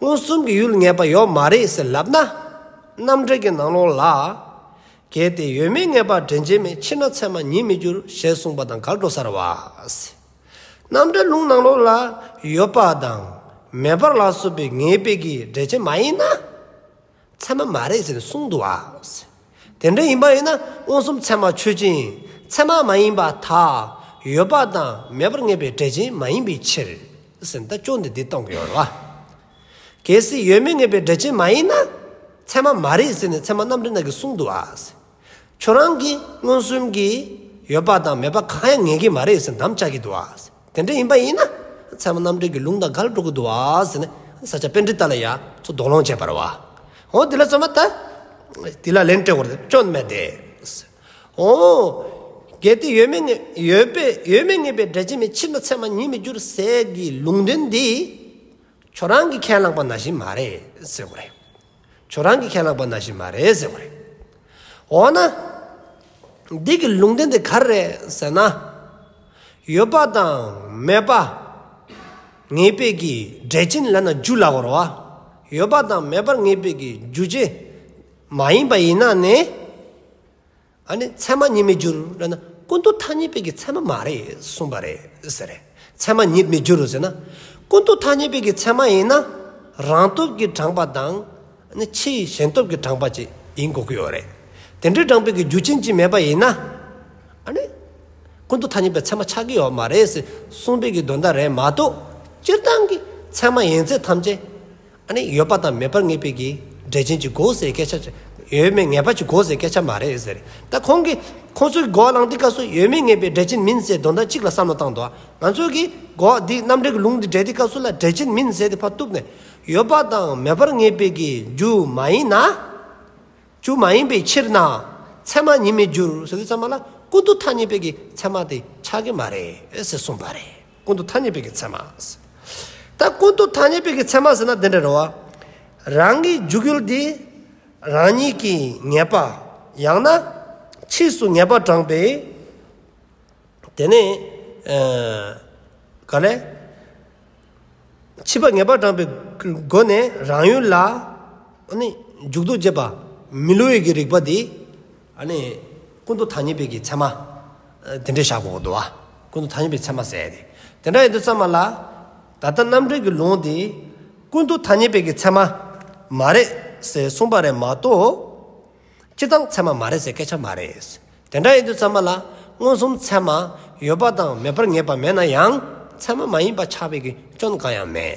མངོན་སུམ་གྱི་ཡུལ་ངེས་པ་ཡོད་མ་རེད་ཟེར་ལབ་ན། རྣམ་འགྲེལ་གྱི་ནང་ལོགས་ལ། གལ་ཏེ་ཡོད་མེད་ངེས་པར་འདྲེན་བྱེད་མེད་ཕྱིར་ན་ཚད་མ་ཉིད་མི་འགྱུར་ཞེས་གསུངས་པ་དང་གར་འགྲོ་སར་བ། རྣམ་འགྲེལ་ལུང་ནང་ལོགས་ལ་ཡོད་པ་དང་མེད་པར་ལ་སོགས་པའི་ངེས་པའི་གི་འགྲེལ་བྱེད་མ་ཡིན་ན། ཚད་མ་མ་རེད་ཟེར་གསུངས་འདུག་ཨ། དེ་འདྲ་ཡིན་པ་ཡིན་ན་མངོན་སུམ་ཚད་མ་ཆོས་ཅན། ཚད་མ་མ་ཡིན་པ་དག་ཡོད་པ་དང་མེད་པར་ངེས་པའི་འབྲས་ཅན་མ་ཡིན་པའི་ཕྱིར། ཟེར་ན་ཅོ་འདི་འདི་གཏོང་གི་ཡོད་རེད་བ། གལ་སྲིད་ཡོད་མེད་ངེས་པའི་འབྲས་ཅན་མ་ཡིན་ན། ཚད་མ་མ་རེད་ཟེར་ནས་ཚད་མ་རྣམ་འགྲེལ་གནང་གི་གསུངས་འདུག་ཨ། ཁྱོད་རང་གིས་མངོན་སུམ་གྱིས་ཡོད་པ་དང་མེད་པ་གང་ཡང་ངེས་ཀྱི་མ་རེད་ཟེར་འདམ་བཅག་གི་འདུག་ཨ། དེ་འདྲ་ཡིན་པ་ཡིན་ན་ཚད་མ་རྣམ་འགྲེལ་གྱི་ལུང་དང་ག་ལ་འགྲོ་གི་འདུག་ཨ་ཟེར་ནས་ས་སྐྱ་དཔེ་འདྲི་ལྟ་ལ་ཡ་མཚོ་རྡོག་རློངས་བྱས་པར་བ། ཧོ་དེ་ལ་ཚད་མ་ད། དེ་ལ་ལན་སྤྲད་བར་སྐྱོན་མེད་དེ། ཧོ། གལ་ཏེ་ཡོད་མེད་ཡོད་པས་ཡོད་མེད་ངེས་པའི་སྒྲ་ཇི་མི་ཕྱིར་ན་ཚད་མ་ཉིད་མི་འགྱུར་ཟེར་གྱི་ལུང་འདྲེན་འདི། ཁྱོད་རང་གིས་ཁས་བླངས་པ་ན་བཞིན་མ་རེད་ཟེར་བ་རེད། ཁྱོད་རང་གི་ཁས་བླངས་པ་ན་བཞིན་མ་རེད་ཟེར་བ་རེད། འོ་ན། འདི་གི་ལུང་བསྟན་དེ་ག་རེ་རེད་ཟེར་ན། ཡོད་པ་དང་མེད་པ། ངེས་དཔེ་གྱི་འགྲེལ་ཆེན་ལ་ན་རྒྱུ་ལ་བོར་བ། ཡོད་པ་དང་མེད་པར་ངེས་དཔེ་གྱི་རྒྱུ་ཅན་མ་ཡིན་པ་ཡིན་ན་ནི། ཨ་ནི་ཚད་མ་ཉིད་མི་འགྱུར་ལ་ན་ཀུན་ཏུ་ཐ་སྙད་པའི་གི་ཚད་མ་མ་རེད་གསུངས་པ་རེད་ཟེར། ཚད་མ་ཉིད་མི་འགྱུར་ཟེར་ན་ཀུན་ཏུ་ཐ་སྙད་པའི་གི་ཚད་མ་ཡིན་ན་རང་སྟོབས་ཀྱིས་དྲངས་པ་དང་ནི་ཕྱིའི་གཞན་སྟོབས་ཀྱིས་དྲངས་པ་བཅས་ཡིན་དགོས་ཀྱི་ཡོད་རེད། དེ་འདྲའི་དྲངས་པའི་གི་རྒྱུ་ཕྱིན་ཅི་མེད་པ་ཡིན་ན་ཨ་ནི་ཀུན་ཏུ་ཐ་སྙད་པའི་ཚད་མ་ཆགས་ཀྱི་ཡོད་མ་རེད་ཟེར་གསུངས་པའི་གི་དོན་དག་རེད་མ་གཏོགས་སྤྱིར་བཏང་གི་ཚད་མ་ཡིན་ཚད་ཐམས་ཅད་ཨ་ནི་ཡོད་པ་དང་མེད་པར་ངེས་པའི་གི་འགྲེལ་ཆེན་གྱི་གོ་ཟེར་སྐད་ཆ། ཡོད་མེད་ངེས་པ་གྱི་གོ་ཟེར་སྐད་ཆ་མ་རེད་ཟེར། ད་ཁོང་གིས། ཁོང་ཚོའི་གོ་བ་ལང་ཏི་ཀ་སོགས་ཡོད་མེད་ངེས་པའི་འགྲེལ་ཆེན་མིན་ཟེར་དོན་དག་གཅིག་ལ་བསམ་བློ་བཏང་འདུག་ང་ཚོས་གི་གོ་བ་འདི་རྣམ་འགྲེལ་གྱི་ལུང་འདི་འགྲེལ་ཏི་ཀ་སོགས་ལ་འགྲེལ་ཆེན་མིན་ཟེར་ཏེ་ཕར་བཏུབ་ནས། ཡོད་པ་དང་མེད་པར་ངེས་པའི་གི་རྒྱུ་མ་ཡིན་ན། རྒྱུ་མ་ཡིན་པའི་ཕྱིར་ན། ཚད་མ་ཉིད་མི་འགྱུར་ཟེར་དུས་ཚད་མ་ལ་ཀུན་ཏུ་ཐ་སྙད་པའི་གི་ཚད་མ་དེ་ཆགས་ཀྱི་མ་རེད་ཟེར་གསུངས་པ་རེད། ཀུན་ཏུ་ཐ་སྙད་པའི་གི་ཚད་མ། ད་ཀུན་ཏུ་ཐ་སྙད་པའི་གི་ཚད་མ་ཟེར་ན་དེ་འདྲ་རེད་བ། རང་གི་འཇུག་ཡུལ་དེ་རང་ཉིད་ཀྱི་ངེས་པ་ཡང་ན་ཕྱིས་སུ་ངེས་པ་དྲངས་པའི། དེ་ནས། ག་ལས། ཕྱིས་པ་ངེས་པ་དྲངས་པའི་སྒོ་ནས་རང་ཡུལ་ལ། འཇུག་ཏུ་བཅད་པ་མི་བསླུ་བའི་གི་རིགས་པ་དེ། ནི། ཀུན་ཏུ་ཐ་སྙད་དཔེ་ཀྱི་ཚད་མ། དེ་འདྲའི་བཞག་གོ་དོ། ཀུན་ཏུ་ཐ་སྙད་པའི་ཚད་མ་ཟད་དེ། དེ་འདྲ་ཡིན་དུ་བསམ་མ་ལ། ད་ལྟ་རྣམ་འགྲེལ་གྱི་ལུང་དེས། ཀུན་ཏུ་ཐ་སྙད་དཔེ་ཀྱི་ཚད་མ། མ་རེད་ཟེར་གསུངས་པ་རེད་མ་གཏོགས། སྤྱི་གཙང་ཚད་མ་མ་རེད་ཟེར་སྐད་ཆ་མ་རེད། དེ་འདྲ་ཡིན་དུ་བསམ་མ་ལ། མངོན་སུམ་ཚད་མ། ཡོད་པ་དང་མེད་པར་ངེས་པ་མེད་ན་ཡང། ཚད་མ་མ་ཡིན་པ་ཆགས་པའི་སྐྱོན་གང་ཡང་མེད།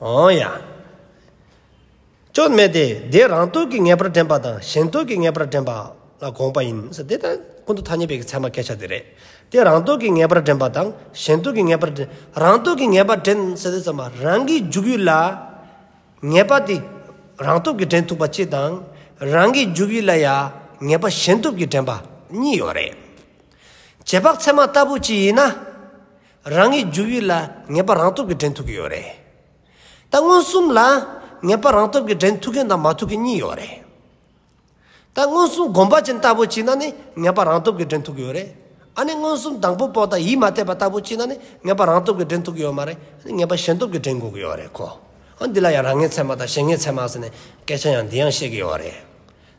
འོང་ཡ། ཅོ་ནེ་དེ་འདི་རང་སྟོད་ཀྱི་ངེས་པར་འདྲེན་པ་དང་གཞན་སྟོད་ཀྱི་ངེས་པར་འདྲེན་པ་ལ་དགོངས་པ་ཡིན། དེ་ལྟར་ཀུན་ཏུ་ཐ་སྙད་པའི་གི་ཚད་མ་སྐད་ཆ་དེ་རེད། དེ་རང་སྟོད་ཀྱི་ངེས་པར་འདྲེན་པ་དང་གཞན་སྟོད་ཀྱི་ངེས་པར་འདྲེན། རང་སྟོད་ཀྱི་ངེས་པར་འདྲེན་ཟེར་དུས་ཚང་མ་རང་གི་འཇུག་ཡུལ་ལ་ངེས་པ་དེ་རང་སྟོབས་ཀྱིས་འདྲེན་ཐུབ་པ་གཅིག་དང། རང་གི་འཇུག་ཡུལ་ལ་ཡང་ངེས་པ་གཞན་སྟོབས་ཀྱིས་འདྲེན་པ་གཉིས་ཡོད་རེད། རྗེས་དཔག་ཚད་མ་ལྟ་བུ་གཅིག་ཡིན་ན། རང་གི་འཇུག་ཡུལ་ལ་ངེས་པ་རང་སྟོབས་ཀྱིས་འདྲེན་ཐུབ་ཀྱི་ཡོད་རེད། ད་མངོན་སུམ་ལ་ངེས་པ་རང་སྟོབས་ཀྱིས་འདྲེན་ཐུབ་མཁན་དང་མ་ཐུབ་མཁན་གཉིས་ཡོད་རེད། ད་མངོན་སུམ་སྒོམ་པ་ཅན་ལྟ་བུ་བྱས་ན་ནི་ངེས་པ་རང་སྟོབས་ཀྱིས་འདྲེན་ཐུབ་ཀྱི་ཡོད་རེད། ཨ་ནི་མངོན་སུམ་དང་པོ་པོ་དང་ཡིད་མ་གཏད་པ་ལྟ་བུ་བྱས་ན་ནི་ངེས་པ་རང་སྟོབས་ཀྱིས་འདྲེན་ཐུབ་ཀྱི་ཡོད་མ་རེད། ངེས་པ་གཞན་སྟོབས་ཀྱིས་འདྲེན་དགོས་ཀྱི་ཡོད་རེད་ཁོ། ཨ་འདི་ལ་ཡང་རང་ངེས་ཚད་མ་དང་གཞན་ངེས་ཚད་མ་ཟེར་ནས་སྐད་ཆ་ཡང་འདི་ཡང་བཤད་ཀྱི་ཡོད་རེད།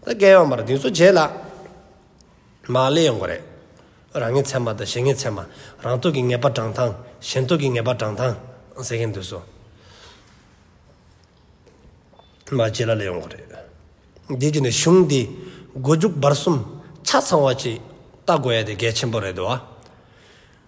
ད་རྒྱལ་ཡོངས་པར་འདི་ཚོ་བརྗེད་ལ། མ་ལས་ཡོང་གི་རེད། རང་ངེས་ཚད་མ་དང་གཞན་ངེས་ཚད་མ། རང་རྟོགས་ཀྱི་ངེས་པ་བགྲང་སྟངས། གཞན་རྟོགས་ཀྱི་ངེས་པ་བགྲང་སྟངས། ཟེར་གྱིན་འདུག་སོ། མ་བརྗེད་ལ་ལས་ཡོང་གི་རེད། དེ་བརྒྱུད་ནས་གཞུང་འདིས་མགོ་མཇུག་བར་གསུམ་ཆ་ཚང་བ་ཅིག་བལྟ་དགོས་ཡ་དེ་གལ་ཆེན་པོ་རེད་དོ།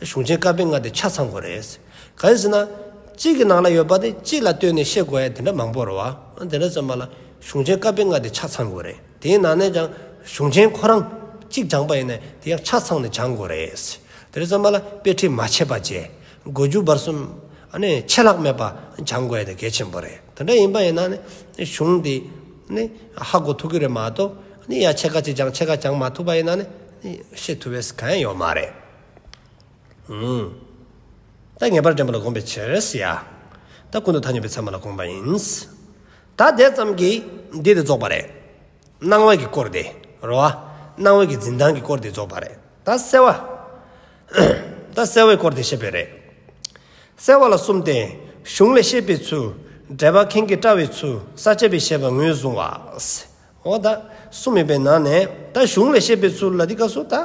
གཞུང་ཆེན་བཀའ་པོད་ལྔ་དེ་ཆ་ཚང་དགོས་རེད། གང་ཡིན་ཟེར་ན། གཅིག་གི་ནང་ལ་ཡོད་པ་དེ་གཅིག་ལ་ལྟོས་ནས་བཤད་དགོས་ཡ་དེ་འདྲ་མང་པོ་རེད་བ། དེ་འདྲ་ཙམ་མ་ལ། གཞུང་ཆེན་བཀའ་པོད་ལྔ་དེ་ཆ་ཚང་དགོས་རེད། དེའི་ནང་ནས་ཀྱང། གཞུང་ཆེན་ཁོ་རང། གཅིག་སྦྱངས་པ་ཡིན་ནས་དེ་ཡང་ཆ་ཚང་ནས་སྦྱངས་དགོས་རེད། དེ་འདྲ་ཙམ་མ་ལ་དཔེ་ཁྲིད་མ་བྱས་པ་བཅས། དགོས་རྒྱུ་བར་གསུམ། ནི། ཆད་ལྷག་མེད་པ། སྦྱངས་དགོས་ཡ་དེ་གལ་ཆེན་པོ་རེད། དེ་འདྲ་ཡིན་པ་ཡིན་ན་ནི། གཞུང་དེ། ནི། ཧ་གོ་ཐུབ་ཀྱི་རེད་མ་གཏོགས། ནི་ཡ་ཕྱེད་ཀ་གཅིག་སྦྱངས་ཕྱེད་ཀ་སྦྱངས་མ་ཐུབ་པ་ཡིན་ན་ནི། ཤེས་ཐུབ་བས་གང་ཡང་ཡོད་མ་རེད། བདག་ངེས་པར་འདྲེན་པ་ལ་དགོངས་པའི་ཕྱིར། བདག་ཀུན་ཏུ་ཐ་སྙད་པའི་ཚད་མ་ལ་དགོངས་པ་ཡིན། བདག་དེ་ཙམ་གྱིས་འདི་དེ་རྫོགས་པ་རེད། སྣང་བ་གི་སྐོར་འདི་རོ། སྣང་བ་གི་འཛིན་སྟངས་ཀྱི་སྐོར་འདི་རྫོགས་པ་རེད། བདག་གསལ་བ། བདག་གསལ་བའི་སྐོར་འདི་ཤེས་པས་རེད། གསལ་བ་ལ་གསུམ་སྟེ། གཞུང་ལས་ཤེས་པའི་ཚུལ། འགྲེལ་པ་མཁན་གྱིས་བཀྲལ་བའི་ཚུལ་ས་བཅད་པའི་བཤད་པ་ངོས་བཟུང་བ། འོ་བདག་གསུམ་མེད་པའི་ནང་ནས་བདག་གཞུང་ལས་ཤེས་པའི་ཚུལ་ལ་འདི་ཀ་སོ་བདག།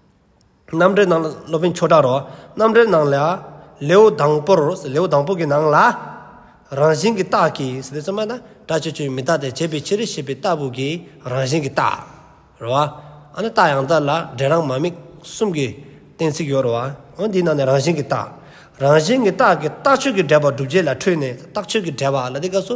རྣམ་འགྲེལ་ནང་ལ་སློབ་དཔོན་ཆོས་གྲགས་རོགས་རྣམ་འགྲེལ་ནང་ལ། ལེའུ་དང་པོར་ལེའུ་དང་པོ་གི་ནང་ལ། རང་བཞིན་གྱི་རྟགས་ཀྱིས་སེམས་མ་དང་སྒྲ་ཆོས་ཆོས་མི་རྟག་སྟེ་བྱེད་པའི་ཕྱིར་ཞེས་པའི་ལྟ་བུ་གྱི་རང་བཞིན་གྱི་རྟགས་རོ། ཨ་ནི་རྟགས་ཡང་དག་ལ་འབྲས་རང་མ་དམིགས་གསུམ་གྱི་གཏན་ཚིགས་ཡོད་རོ། འོན་འདིའི་ནང་ནས་རང་བཞིན་གྱི་རྟགས། རང་བཞིན་གྱི་རྟགས་ཀྱི་རྟགས་ཆོས་ཀྱི་འབྲེལ་པ་བསྒྲུབ་བྱེད་ལ་འཕྲོས་ནས་རྟགས་ཆོས་ཀྱི་འབྲེལ་པ་ལ་དེ་སྐབས་སུ།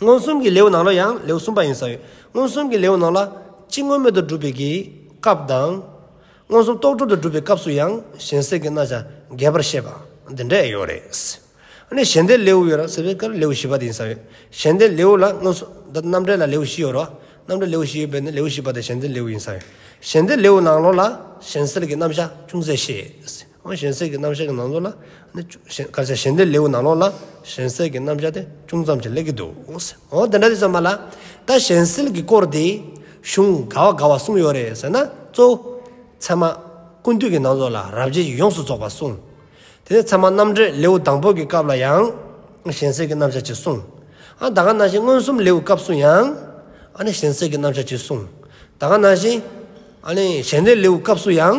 མངོན་སུམ་གྱི་ལེའུ་ནང་ལོ་ཡང་ལེའུ་གསུམ་པ་ཡིན་ས་ཡོད། མངོན་སུམ་གྱི་ལེའུ་ནང་ལ་སྤྱི་དངོས་མེད་དུ་སྒྲུབ་པའི་གྱི་སྐབས་དང། མངོན་སུམ་རྟོག་སྒྲུབ་ཏུ་སྒྲུབ་པའི་སྐབས་སུ་ཡང་གཞན་སེལ་གྱི་རྣ་ཆ་འགལ་བར་བཤད་པ་འདི་འདྲ་ཡོད་རེད། ཨ་ནི་གཞན་སྡེའི་ལེའུ་ཡོད་ར་ཟེར་བའི་སྐབས་ལེའུ་བཞི་པ་དེ་ཡིན་ས་ཡོད། གཞན་སྡེའི་ལེའུ་ལ་མངོན་སུམ་དང་རྣམ་འགྲེལ་ལ་ལེའུ་བཞི་ཡོད་ར། རྣམ་འགྲེལ་ལེའུ་བཞི་ཡོད་པས་ན་ལེའུ་བཞི་པ་དེ་གཞན་སྡེའི་ལེའུ་ཡིན་ས་ཡོད། གཞན་སྡེའི་ལེའུ་ནང་ལོ་ལ་གཞན་སེལ་གྱི་རྣམ་གཞག་ཅུང་ཟད་བཤད། གཞན་སེལ་གྱི་རྣམ་གཞག་གི་ནང་དོན་ལ་ནི། སྐར་ཆ་གཞན་སྡེའི་ལེའུ་ནང་ལོགས་ལ་གཞན་སེལ་གྱི་རྣམ་གཞག་དེ་ཅུང་ཙམ་ཞིག་གླེང་གི་འདུག་འོ་དེ་འདྲ་དེ་ཙམ་མ་ལ། ད་གཞན་སེལ་གྱི་སྐོར་དེ། གཞུང་ག་བ་ག་བ་གསུངས་ཡོད་རེད་ཟེར་ན་གཙོ་བོ། ཚད་མ། ཀུན་བཏུས་ཀྱི་ནང་ཚོགས་ལ་རབ་བྱེད་ཀྱིས་ཡོངས་སུ་རྫོགས་པ་གསུངས། དེ་ནས་ཚད་མ་རྣམ་འགྲེལ་ལེའུ་དང་པོ་གྱི་སྐབས་ལ་ཡང། གཞན་སེལ་གྱི་རྣམ་གཞག་ཅིག་གསུངས། ད་ག་ནང་བཞིན་མངོན་སུམ་ལེའུ་སྐབས་སུ་ཡང། གཞན་སེལ་གྱི་རྣམ་གཞག་ཅིག་གསུངས། ད་ག་ནང་བཞིན། གཞན་སྡེའི་ལེའུ་སྐབས་སུ་ཡང།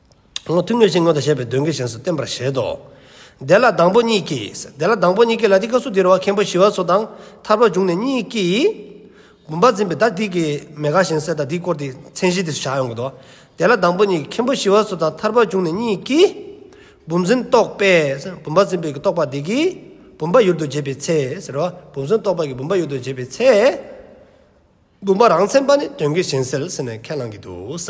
སྔོན་ཐུགས་མོས་ཅན་སྔོན་དུ་བཤད་པའི་དོན་གྱི་གཞན་སུ་བསྟན་པར་བཞེད་དོ། དེ་ལ་དང་པོ་གཉིས་ཀྱིས། དེ་ལ་དང་པོ་གཉིས་ཀྱིས་ལ་དེ་ཀ་སུ་དེར་བ་མཁན་པོ་ཞི་བ་སོགས་དང་ཐར་པར་འབྱུང་ནས་གཉིས་ཀྱིས། བུམ་པ་འཛིན་པའི་བདག་དེ་ཀའི་མེ་ཁ་གཞན་སེལ་དང་དེའི་སྐོར་དེ་མཚན་གཞི་དེ་སུ་བྱ་ཡོང་གི་དོ། དེ་ལ་དང་པོ་གཉིས་ཀྱིས་མཁན་པོ་ཞི་བ་སོགས་དང་ཐར་པར་འབྱུང་ནས་གཉིས་ཀྱིས། བུམ་འཛིན་རྟོག་པས། བུམ་པ་འཛིན་པའི་རྟོག་པ་དེ་ཀའི། བུམ་པ་ཡུལ་དུ་འབྱེད་པའི་ཚེ། ཟེར་བ། བུམ་འཛིན་རྟོག་པ་ཀྱི་བུམ་པ་ཡུལ་དུ་འབྱེད་པའི་ཚེ། བུམ་པ་རང་མཚན་པ་ནི་དོན་གྱི་གཞན་སེལ་ཟེར་ནས་ཁས་བླང་གི་འདུག་ས།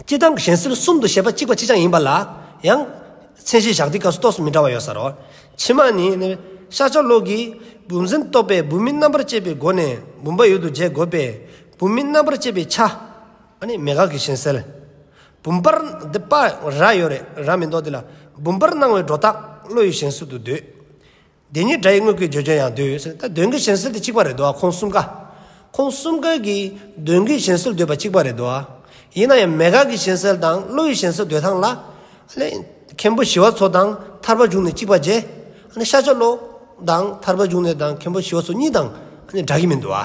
སྤྱི་དང་གཞན་སེལ་གསུམ་དུ་བཤད་པ་གཅིག་པ་གཅིག་རྐྱང་ཡིན་པ་ལ་ཡང། མཚན་གཞི་བཞག་སྟེ་སྐབས་སུ་གཏོགས་སུ་མི་འདྲ་བ་ཡོད་ས་རོ། ཕྱི་མ་ནི། ཤཱཀྱ་ལོག་གིས། བུམ་འཛིན་རྟོག་པས་བུམ་མིན་རྣམ་པར་བཅད་པའི་སྒོ་ནས་བུམ་པ་ཡོད་དོ་འཇལ་དགོས་པས། བུམ་མིན་རྣམ་པར་བཅད་པའི་ཆ། མེད་དགག་གི་གཞན་སེལ། བུམ་པར། འདི་པ་ར་ཡོད་རེད་ར་མི་འདོགས་འདི་ལ། བུམ་པར་སྣང་བའི་སྒྲོ་བཏགས་བློ་ཡི་གཞན་སེལ་དུ་འདོད། བདེན་གཉིས་སྒྲ་ཡི་དངོས་ཀྱི་བརྗོད་བྱ་ཡང་འདོད་ཟེར་ད་བདུན་གྱི་གཞན་སེལ་དེ་གཅིག་པ་རེད་དོ་ཁོང་གསུམ་ཀ། ཁོང་གསུམ་ཀའི་གིས་བདུན་གྱི་གཞན་སེལ་འདོད་པ་གཅིག་པ་རེད་དོ། ཡིན་ན་ཡང་མེད་དགག་གི་གཞན་སེལ་དང་བློ་ཡི་གཞན་སེལ་འདོད་ཐང་ལ། མཁན་པོ་ཞི་བ་འཚོ་དང་ཐར་པ་འབྱུང་ནི་གཅིག་པ་རྗེ། ཤཱཀྱ་བློ། དང་ཐར་པ་འབྱུང་ནི་དང་མཁན་པོ་ཞི་བ་འཚོ་གཉིས་དང་སྒྲ་གི་མི་འདུག་ཨ།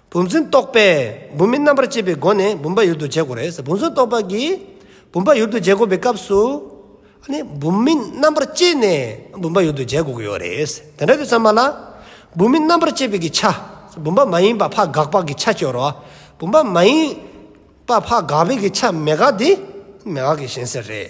བུམ་ཚུན་རྟོག་པས་བུམ་མིན་རྣམ་པར་དཔྱད་པའི་སྒོ་ནས་བུམ་པ་ཡུལ་དུ་འཇལ་དགོས་རེད། བུམ་ཚུན་རྟོག་པ་གིས་བུམ་པ་ཡུལ་དུ་འཇལ་དགོས་པའི་སྐབས་སུ། བུམ་མིན་རྣམ་པར་དཔྱད་ནས་བུམ་པ་ཡུལ་དུ་འཇལ་དགོས་ཀྱི་ཡོད་རེད། དེ་འདྲ་དུས་ཚང་མ་ལ། བུམ་མིན་རྣམ་པར་དཔྱད་པའི་གི་ཆ། བུམ་པ་མ་ཡིན་པ་ཕ་དགག་པ་གི་ཆ་སྐྱོར་རོ། བུམ་པ་མ་ཡིན་པ་ཕ་དགག་པའི་གི་ཆ་མེད་དགག་དེ་མེད་དགག་གི་གཞན་སེལ་རེད།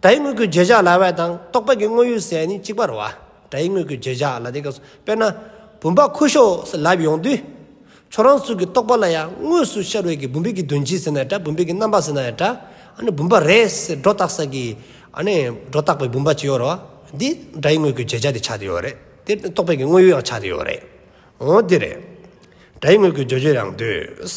སྒྲ་ཡི་དངོས་ཀུན་བརྗོད་བྱ་ལ་བས་དང་རྟོག་པའི་དངོས་ཡུལ་གསལ་ནི་གཅིག་པར་བ། སྒྲ་ཡི་དངོས་ཀུན་བརྗོད་བྱ་ལ་དེ་སྐབས་སུ་དཔེར་ན། བུམ་པ་ཁུ་ཤོ་སོགས་ལབ་ཡོང་དུས། ཁྱོད་རང་ཚུལ་གྱིས་རྟོག་པ་ལ་ཡང་དངོས་སུ་ཤར་བའི་གི་བུམ་པའི་གི་དོན་ཅི་ཟེར་ན་ཡང་འདྲ་བུམ་པའི་གི་རྣམ་པ་ཟེར་ན་ཡང་འདྲ། ཨ་ནི་བུམ་པ་རེད་ཟེར་སྒྲོ་བཏགས་ས་ཀྱི། ཨ་ནི་སྒྲོ་བཏགས་པའི་བུམ་པ་ཅི་ཡོད་རོ། འདི་སྒྲ་ཡི་དངོས་ཀུན་བརྗོད་བྱ་དེ་ཆགས་ཏེ་ཡོད་རེད་དེ། རྟོག་པའི་གི་དངོས་ཡུལ་ཡང་ཆགས་ཏེ་ཡོད་རེད། འོ་དེ་རེད། སྒྲ་ཡི་དངོས་ཀུན་བརྗོད་བྱའི་ཡང་དུས།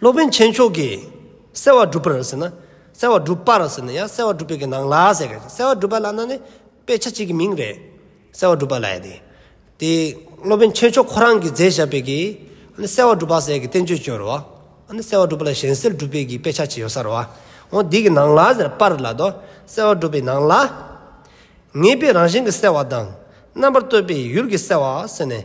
སློབ་དཔོན་ཆེན་མཆོག་གིས་གསལ་བར་བསྒྲུབ་པར་ཟེར་ན། གསལ་བར་བསྒྲུབ་པར་ཟེར་ན་ཡང་གསལ་བར་བསྒྲུབ་པའི་ནང་ལ་ཟེར་གྱི། གསལ་བར་བསྒྲུབ་པ་ལ་ན་ནི་དཔེ་ཆ་གཅིག་གི་མིང་རེད། གསལ་བར་བསྒྲུབ་པ་ལ་ཡང་དེ། དེ་སློབ་དཔོན་ཆེན་མཆོག་ཁོ་རང་གིས་མཛད་བཞག་པའི་གི། ཨ་ནི་གསལ་བར་བསྒྲུབ་པ་ཟེར་གྱི་བསྟན་བཅོས་ཅོ་རོ། ཨ་ནི་གསལ་བར་བསྒྲུབ་པ་ལ་གཞན་སེལ་བསྒྲུབ་པའི་གི་དཔེ་ཆ་གཅིག་ཡོད་ས་རོ། འོ་འདི་གི་ནང་ལ་ཟེར་པར་ལ་དོ། གསལ་བར་བསྒྲུབ་པའི་ནང་ལ། ངེས་པའི་རང་བཞིན་གྱི་གསལ་བ་དང། རྣམ་པར་བལྟོས་པའི་ཡུལ་གྱི་གསལ་བ་ཟེར་ནས།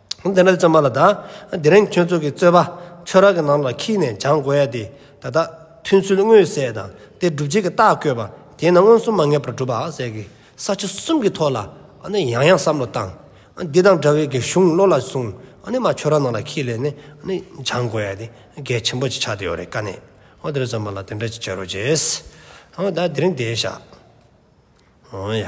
ཨ་འདི་འདྲ་བཙོན་པ་ལ་ད་དེ་རིང་ཁྱོད་ཚོ་གི་རྩོད་པ་ཆོས་ར་གི་ནང་ལ་ཁིད་ནས་སྦྱང་དགོས་ཡ་དེ་ད་ལྟ་མཐུན་ཚུལ་དངོས་གསལ་དང་དེ་སྒྲུབ་བྱེད་ཀྱི་རྟགས་བཀོད་པ་དེ་ན་མངོན་སུམ་མ་ངེས་པར་གྲུབ་པ་ཟེར་གི་ས་ཆ་གསུམ་གི་ཐོག་ལ་ཨ་ནི་ཡང་ཡང་བསམ་བློ་བཏང་ཨ་འདི་དང་འདྲ་བའི་གི་གཞུང་བློ་ལ་བཟུང་ཨ་ནི་མ་ཆོས་ར་ནང་ལ་ཁིད་ལས་ནས་ཨ་ནི་སྦྱང་དགོས་ཡ་དེ་གལ་ཆེན་པོ་ཅིག་ཆགས་དེ་ཡོད་རེད་ཀ་ནས་ཨོ་དེ་རིང་བཙོན་པ་ལ་དེ་འདྲ་ཅིག་བྱེད་རོགས་བྱས་ཨོ་ད་དེ་རིང་དེ་བཞག་ཨོ་ཡ།